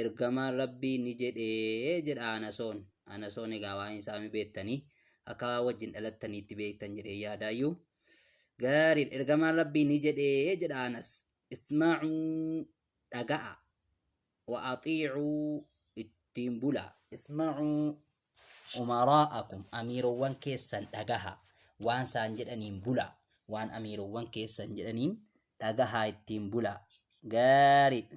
Ergamaan Rabbii ni jedhe jedha Anasoon. Anasoon egaa waa'een isaa ni beektanii akka waan wajjin dhalattaniitti beektan jedhee yaadaayyuu. Gaariin ergamaan Rabbii ni jedhe jedha Anas. Isma'uu dhaga'a. Wa axiicuu ittiin bula. Isma'uu umaraa'akum amiirowwan keessan dhagaha. Waan isaan jedhaniin bula. Waan amiirowwan keessan jedhaniin dhagahaa ittiin bula. Gaariidha.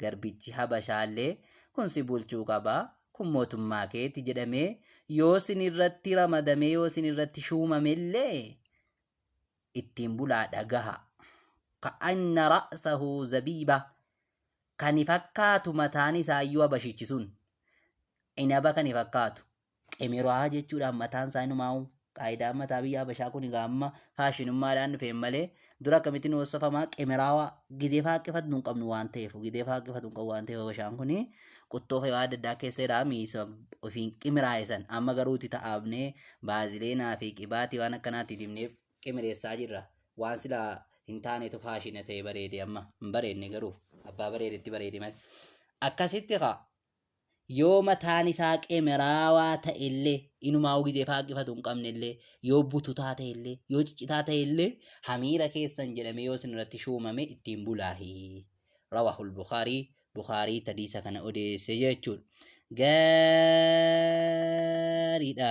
Garbichi Habashaallee, Kun si bulchuu qaba, kun mootummaa keeti jedhamee yoo sin irratti ramadamee yoo sin irratti shuumamellee ittiin bulaa dhagaha. Ka'anna ra'sahu zabiiba kani fakkaatu mataan isaayyuu Habashichi sun cinaba kani fakkaatu Emirohaa jechuudhaan mataan isaa inumaa'u qaayidaan mataa biyya Habashaa kun egaa amma faashinummaadhaan dhufeen malee dura akkamitti nu hoosofama qimiraawaa gizee faaqqifatnu hin qabnu waan ta'eef gizee faaqqifatnu hin qabu waan ta'eef Habashaan kun quttoo fayyaa adda addaa keessa jira miisa ofiin qimiraa'isan amma garuu itti ta'aabnee baazileenaa fi qibaatii waan akkanaatti dibnee qimireessaa jirra waan sila hin taanetu faashina ta'e bareede amma hin bareedne garuu abbaa bareedetti bareede malee akkasitti kaa Yoo mataan isaa qemeraawaa ta'e illee, inumaa'uu gizee faaqqifatu hin qabne illee, yoo bututaa ta'e illee, yoo ciccitaa ta'e illee, hamiira keessan jedhamee yoo isin irratti shuumame ittiin bulaahi. Rawaahul Bukhaarii, Bukhaarii tadiisa kana odeesse jechuudha. Gaariidha.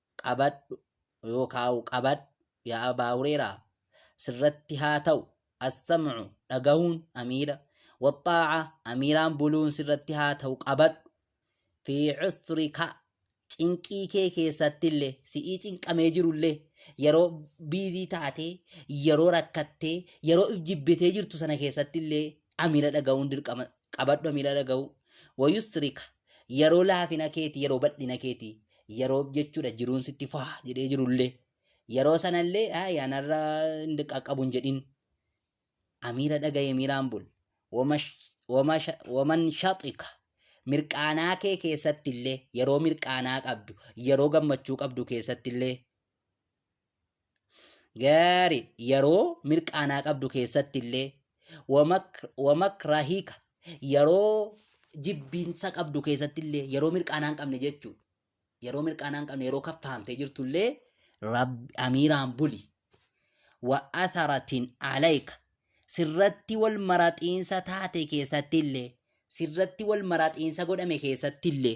qabadhu yookaa'u qabadhu yaa abaa hureeraa sirratti haa ta'u assam'u dhagahuun amiira waxxaa'a amiiraan buluun sirratti haa ta'u qabadhu fi cusrika cinqii kee keessattillee si'ii cinqamee jirullee yeroo biizii taatee yeroo rakkattee yeroo if jibbitee jirtu sana keessattillee a miila dhaga'uun dirqama qabadhu a miila dhaga'uu wayustirika yeroo laafina keeti yeroo bal'ina keeti yeroo jechuudha jiruun sitti faa jedhee jirullee yeroo sanallee a yanarra hin qaqqabu hin jedhin a miila dhaga'ee miilaan bul wamash- wamasha- waman shaxika mirqaanaa kee keessattillee yeroo mirqaanaa qabdu yeroo gammachuu qabdu keessattillee Gaarii yeroo mirqaanaa qabdu keessatti illee wamakrahiika yeroo jibbiinsa qabdu keessatti illee yeroo mirqaanaa hin qabne jechuudha. Yeroo mirqaanaa hin qabne yeroo kaffaamtee jirtu illee rabbi amiiraan buli. Wa atharatin alayka sirratti wal maraxiinsa taate keessatti illee sirratti wal maraxiinsa godhame keessatti illee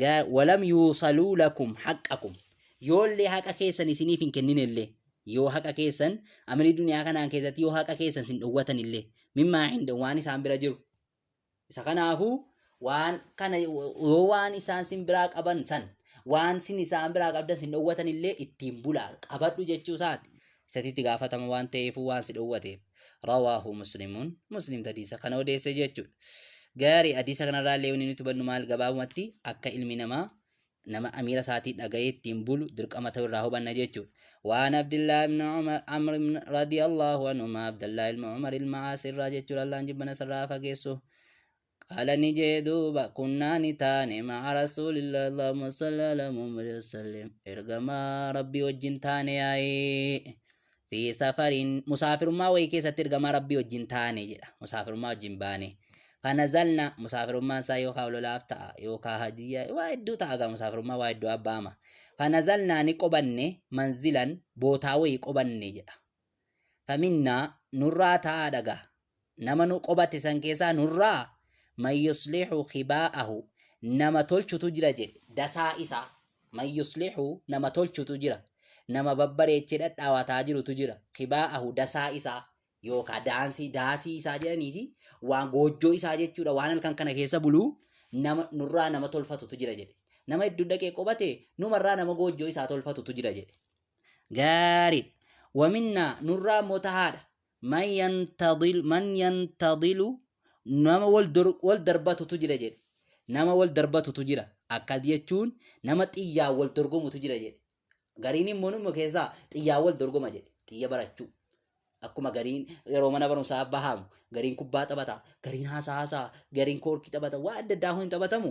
Ga- walam yuusaluu lakum haqqakum yoollee haqa keessan isiniif hin kenninellee yoo haqa keessan amrii duniyaa kanaan keessatti yoo haqa keessan sin dhowwatanillee mimmaa hinda waan isaan bira jiru isa kanaafuu waan kana yoo waan isaan sin biraa qaban san waan sin isaan biraa qabdan sin dhowwatanillee ittiin bulaa qabadhu jechuu isaati isati itti gaafatama waan ta'eefuu waan si dhowwateef rawaahu muslimuun muslim tadiisa kana odeesse jechuudha gaarii adiisa kanarraa illee wanni nuti hubannu maal gabaabumatti akka ilmi namaa nama amiira isaatii dhaga'ee ittiin bulu dirqama ta'uu irraa hubanna jechuudha waan abdillaa ibn umar amr ibn radiyallahu anhuma abdallaa ilma umar ilma aas irraa jechuudha allaan jibbana isarraa fageessu Qaala ni jee duuba kunnaa ni taane ma'a rasuulillah Allahumma salli ala Muhammad wasallim ergamaa rabbii wajjin taane yaa'ee fi safariin musaafirummaa wayii keessatti ergamaa rabbii wajjin taane jedha musaafirummaa wajjin baane kana zalna musaafirummaan isaa yookaa ololaaf ta'a yookaa hadiyyaa waa hedduu ta'a gaa musaafirummaa waa hedduu abbaama kana zalnaa ni qobanne manzilan bootaa wayii qobanne jedha faminnaa, nurraa ta'aadha gaa, nama nu qobate san keessaa nurraa man yuslihu khibaa'ahu, nama tolchutu jira jedhe, dasaa isaa, man yuslihu nama tolchutu jira, nama babbareechee dhadhaawataa jirutu jira, khibaa'ahu dasaa isaa, yookaa daansii, daasii isaa jedhaniisi, waan goojjoo isaa jechuudha, waan halkan kana keessa bulu, nama, nurraa nama tolfatutu jira jedhe. Nama hedduu dhaqee qobate, numarraa nama goojjoo isaa tolfatutu jira jedhe. gaariidha waminnaa nurraa immoo tahaadha man yantadil man yantadilu nama wal dor- wal darbatutu jira jedhe nama wal darbatutu jira akkas jechuun nama xiyyaa wal dorgomutu jira jedhe gariin immoo numa keessaa xiyyaa wal dorgoma jedhe xiyya barachuu akkuma gariin yeroo mana barumsaa bahamu gariin kubbaa taphata gariin haasaa haasaa gariin koorkii taphata waa adda addaa kun hin taphatamu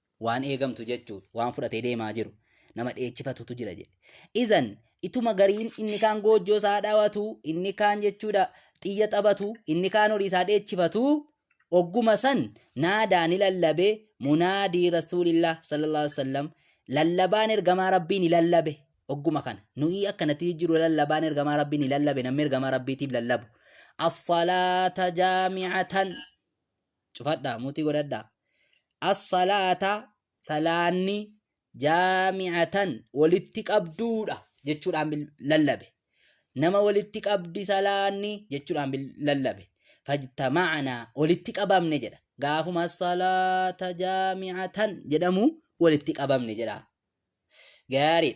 waan eegamtu jechuudha waan fudhatee deemaa jiru nama dheechifatutu jira jedhe izan ituma gariin inni kaan goojjoo isaa dhawatu inni kaan jechuudha xiyya taphatu inni kaan horii isaa dheechifatu ogguma san naadaa ni lallabe munaadii rasuulillah sallallahu alaihi wasallam lallabaan ergamaa rabbii ni lallabe ogguma kana nuyi akkanatti jijjiiru lallabaan ergamaa rabbii ni lallabe namni ergamaa rabbiitiif lallabu as-salaata jaami'atan cufadhaa muutii godhadhaa as-salaata salaanni jaami'atan walitti qabduudha jechuudhaan bil- lallabe nama walitti qabdi salaanni jechuudhaan bil- lallabe fajtama'anaa walitti qabamne jedha gaafuma as-salaata jaami'atan jedhamu walitti qabamne jedha gaarii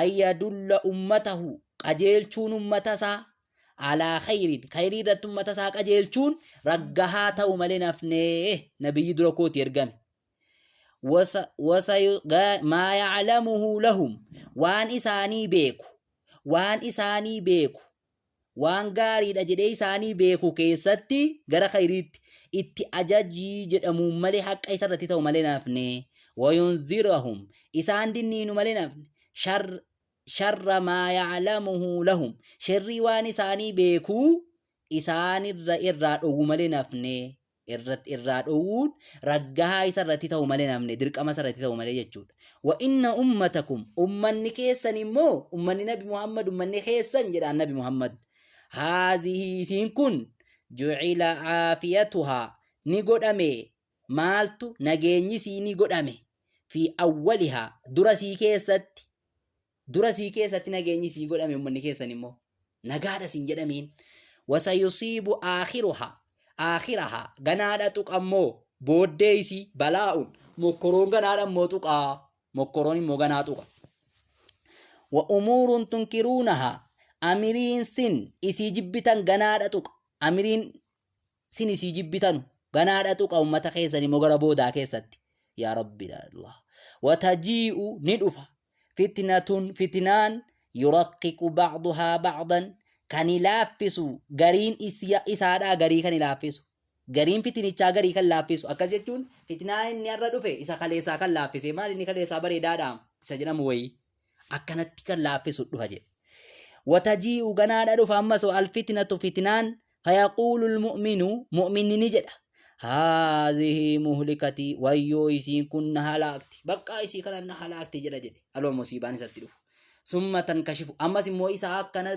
ayyadulla ummatahu qajeelchuun ummatasaa alaa khayriin khayrii irratti ummatasaa qajeelchuun raggahaa ta'u malee nafnee nabiyyi dura kooti ergame maa yaclamuhu lahum waan isaanii beeku waan isaanii beeku waan gaariidha jedhee isaanii beeku keessatti gara khayriitti itti ajajii jedhamuun malee haqqa isa irratti ta'u malee naafne wayunzirahum isaan dinniinu malee naafne shar sharra maa ya'lamuhu lahum sherrii waan isaanii beekuu isaanirra irraa dhowwu malee naafne irratti irraa dhowwuun raggahaa isa irratti ta'u malee namni dirqama isa irratti ta'u malee jechuudha. Wa inna ummatakum ummanni keessan immoo ummanni nabi Muhammad ummanni keessan jedhaan nabi Muhammad haazihii isiin kun jucila caafiyatuhaa ni godhame maaltu nageenyi isii ni godhame fi awwalihaa dura isii keessatti Dura sii keessatti nageenyi sii godhame ummanni keessan immoo nagaadha siin jedhamiin wasayusiibu aakhiruha aakhiraha ganaadha tuqa immoo booddee isii balaa'uun mokkoroon ganaadha immoo tuqa mokkoroon immoo ganaa tuqa wa umuurun tunkiruunaha amiriin sin isii jibbitan ganaadha tuqa amiriin Sini sii jibbitanu ganaa dhaxuqa ummata keessani mo gara boodaa keessatti yaa rabbi yaa allah watajii'u ni dhufa fitnatun fitinaan yuraqiqu ba'duhaa ba'dan kani laaffisu gariin isaadhaa garii kani laaffisu gariin fitinichaa garii kan laaffisu akkas jechuun fitnaa inni har'a dhufe isa kaleessaa kan laaffise maal inni kaleessaa bareedaadha isa jedhamu wayii akkanatti kan laaffisu dhufa jedhe watajii'u ganaadha dhufa ammas alfitnatu fitnaan fayaquulu lmu'minu mu'minni ni jedha haazihi muhlikatii wayyoo isiin kun na halaakti baqqaa isii kana na halaakti jedha jedhe aloo musiibaan isatti dhufu summa tankashifu ammas immoo isa akkana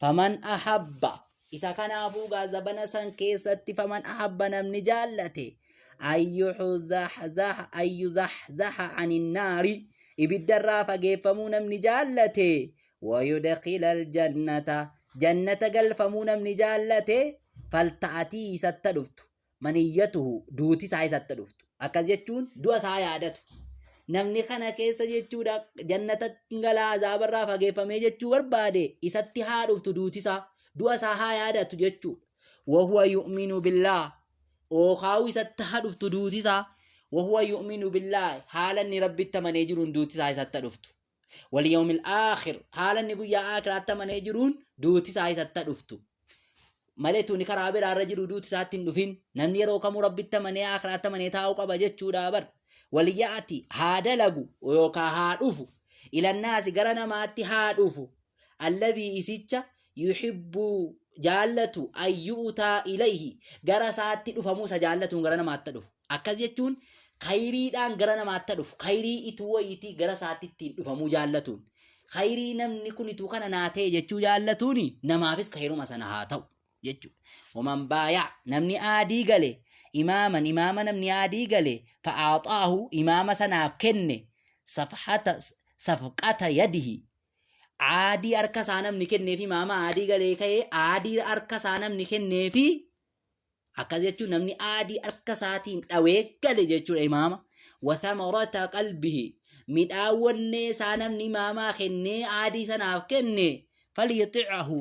faman ahabba isa kanaafuu gaa zabana san keessatti faman ahabba namni jaallate ayyuzahzaha aninnaari ibiddarraa fageeffamuu namni jaallate wayudakila aljannata jannata galfamuu namni jaallate falta'atii isatta dhuftu maniyyatuhu duuti isaa isatti dhuftu akkas jechuun du'a isaa yaadatu namni kana keessa jechuudha jannata galaa azaabarraa fageeffamee jechuu barbaade isatti haa dhuftu duuti isaa du'a isaa haa yaadatu jechuudha wahuwa yu'minu billaa ookaa'uu isatti haa dhuftu duuti isaa wahuwa yu'minu billaa haala inni rabbitti amanee jiruun duuti isaa isatti haa dhuftu wal yawmil aakhir haala inni guyyaa aakhiraatti amanee jiruun duuti isaa isatta dhuftu malee tuni karaa biraa irra jiru duuti isaatti hin dhufin namni yeroo kamuu rabbitti amanee aakhiraatti amanee taa'uu qaba jechuudha bar waliyyaati haa dalagu yookaa haa dhufu ilannaasi gara namaatti haa dhufu alladhii isicha yuhibbuu jaallatu ayyu'utaa ilayhi gara isaatti dhufamuu isa jaallatuun gara namaatti dhufu Akkas jechuun khayriidhaan gara namaatta dhufu, khayrii ituu wayiitii gara isaatti ittiin dhufamuu jaallatuun. Khayrii namni kun ituu kana naa ta'e jechuu jaallatuun namaafis khayruma sana haa ta'u jechuudha. Waman baayaa namni aadii gale imaaman imaama namni aadii gale fa'aaxaahu imaama sanaaf kenne safhata safqata yadihi aadii harka isaa namni kenneef imaama aadii galee ka'ee aadii harka isaa namni kenneefi akkas jechuun namni aadii harka isaatiin dhawee gale jechuudha imaama wathamarata qalbihi midhaan wannee isaa namni imaamaa kennee aadii sanaaf kenne falyuticahu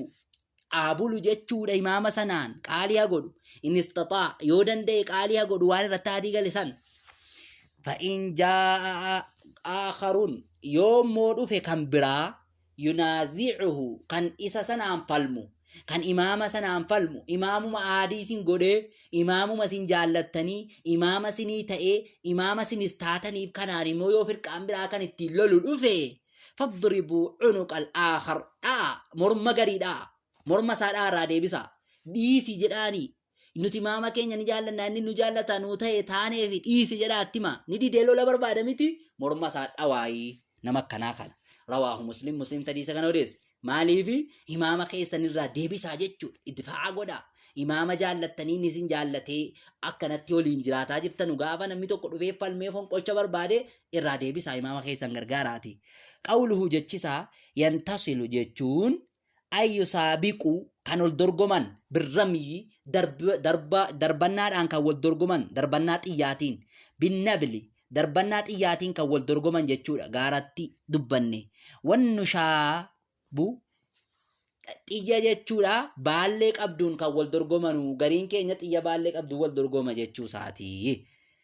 aabulu jechuudha imaama sanaan qaalii haa godhu in istaxaa yoo danda'e qaalii haa godhu waan irratti aadii gale san fa'in jaa'a aakharuun yoo immoo dhufe kan biraa yunaazicuhu kan isa sanaan falmu kan imaama sanaan falmu imaamuma aadii sin godhee imaamuma sin jaallattanii imaama sinii ta'ee imaama sinis taataniif kanaan immoo yoo firqaan biraa kan ittiin lolu dhufe fadribuu cunuqal aakhar dha'a morma garii dha'a morma isaa dha'a irraa deebisaa dhiisi jedhaanii Nuti maama keenya ni jaallanna inni nu jaallata nuu ta'e taanee fi dhiisi jedhaa attima. Ni didee lola barbaada miti morma isaa dhawaayii nama akkanaa kana. Rawaahu muslim muslim tadiisa kana odeesse. Maaliifi imaama keessan irraa deebisaa jechuudha. Idfaa'a godhaa. Imaama jaallattanii ni isin jaallatee akkanatti waliin jiraataa jirtanu gaafa namni tokko dhufee falmee fonqolcha barbaade irraa deebisaa imaama keessan gargaaraati. Qawluhu jechisaa yantasilu jechuun ay yo saabiqu kan ol dorgoman birramyyi darb- darba darbannaadhaan kan wal dorgoman darbannaa xiyyaatiin binnabli darbannaa xiyyaatiin kan wal dorgoman jechuudha gaaratti dubbanne wannu shaabu xiyya jechuudha baallee qabduun kan wal dorgomanu gariin keenya xiyya baallee qabduun wal dorgoma jechuu isaati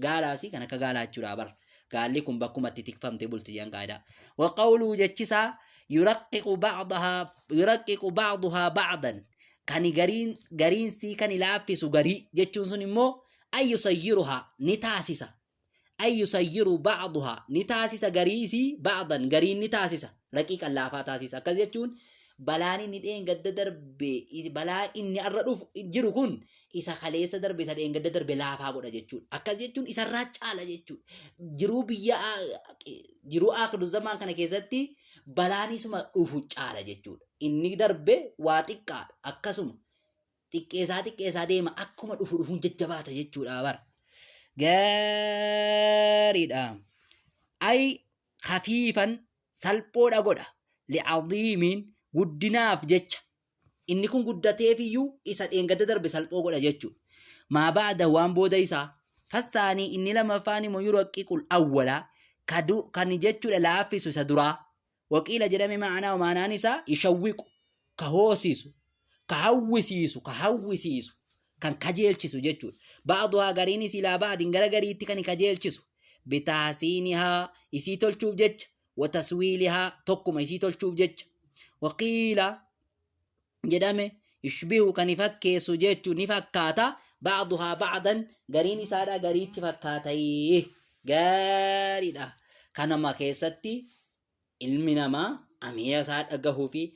Gaalaasi kan akka gaalaa jechuudha bar. Gaalli kun bakkuma itti tikfamte bulti jedhan qaayidaa. Waqawluu jechisaa yuraqqiqu ba'dahaa yuraqqiqu ba'duhaa ba'dan kan gariin gariin sii kan laaffisu garii jechuun sun immoo ayyu sayyiruhaa ni taasisa. Ayyu sayyiru ba'duhaa ni taasisa garii isii ba'dan gariin ni taasisa. Raqiiqan laafaa taasisa. Akkas jechuun balaan inni dheengadda darbe balaa inni arra dhufu jiru kun isa kaleessa darbe isa dheengadda darbe laafaa godha jechuudha. Akkas jechuun isarraa caala jechuudha. Jiruu biyya jiruu aakhiru zamaan kana keessatti balaan isuma dhufu caala jechuudha. Inni darbe waa xiqqaadha. Akkasuma xiqqeessaa xiqqeessaa deema akkuma dhufu dhufuun jajjabaata jechuudha bar. Gaariidha. Ayi kafiifan salphoodha godha. Li'aziimiin guddinaaf jecha Inni kun guddateef iyyuu isa dheengadda darbe salphoo godha jechuudha. Maa ba'ada waan booda isaa. Fastaanii inni lammaffaan immoo yuraqiqul awwala kan jechuudha laaffisu isa duraa. Waqiila jedhame ma'anaa maanaan isaa ishawwiqu ka hoosisu ka hawwisiisu ka hawwisiisu kan kajeelchisu jechuudha. Ba'aduhaa gariin isii laa ba'adin gara gariitti kan kajeelchisu. Bitaasiinihaa isii tolchuuf jecha wataswiilihaa tokkuma isii tolchuuf jecha waqiila jedhame yushbihu kan fakkeessu jechu ni fakkaata ba'duhaa ba'dan gariin isaadha gariitti fakkaatayee gaariidha kanama keessatti ilmi namaa amiira isaa dhagahuu fi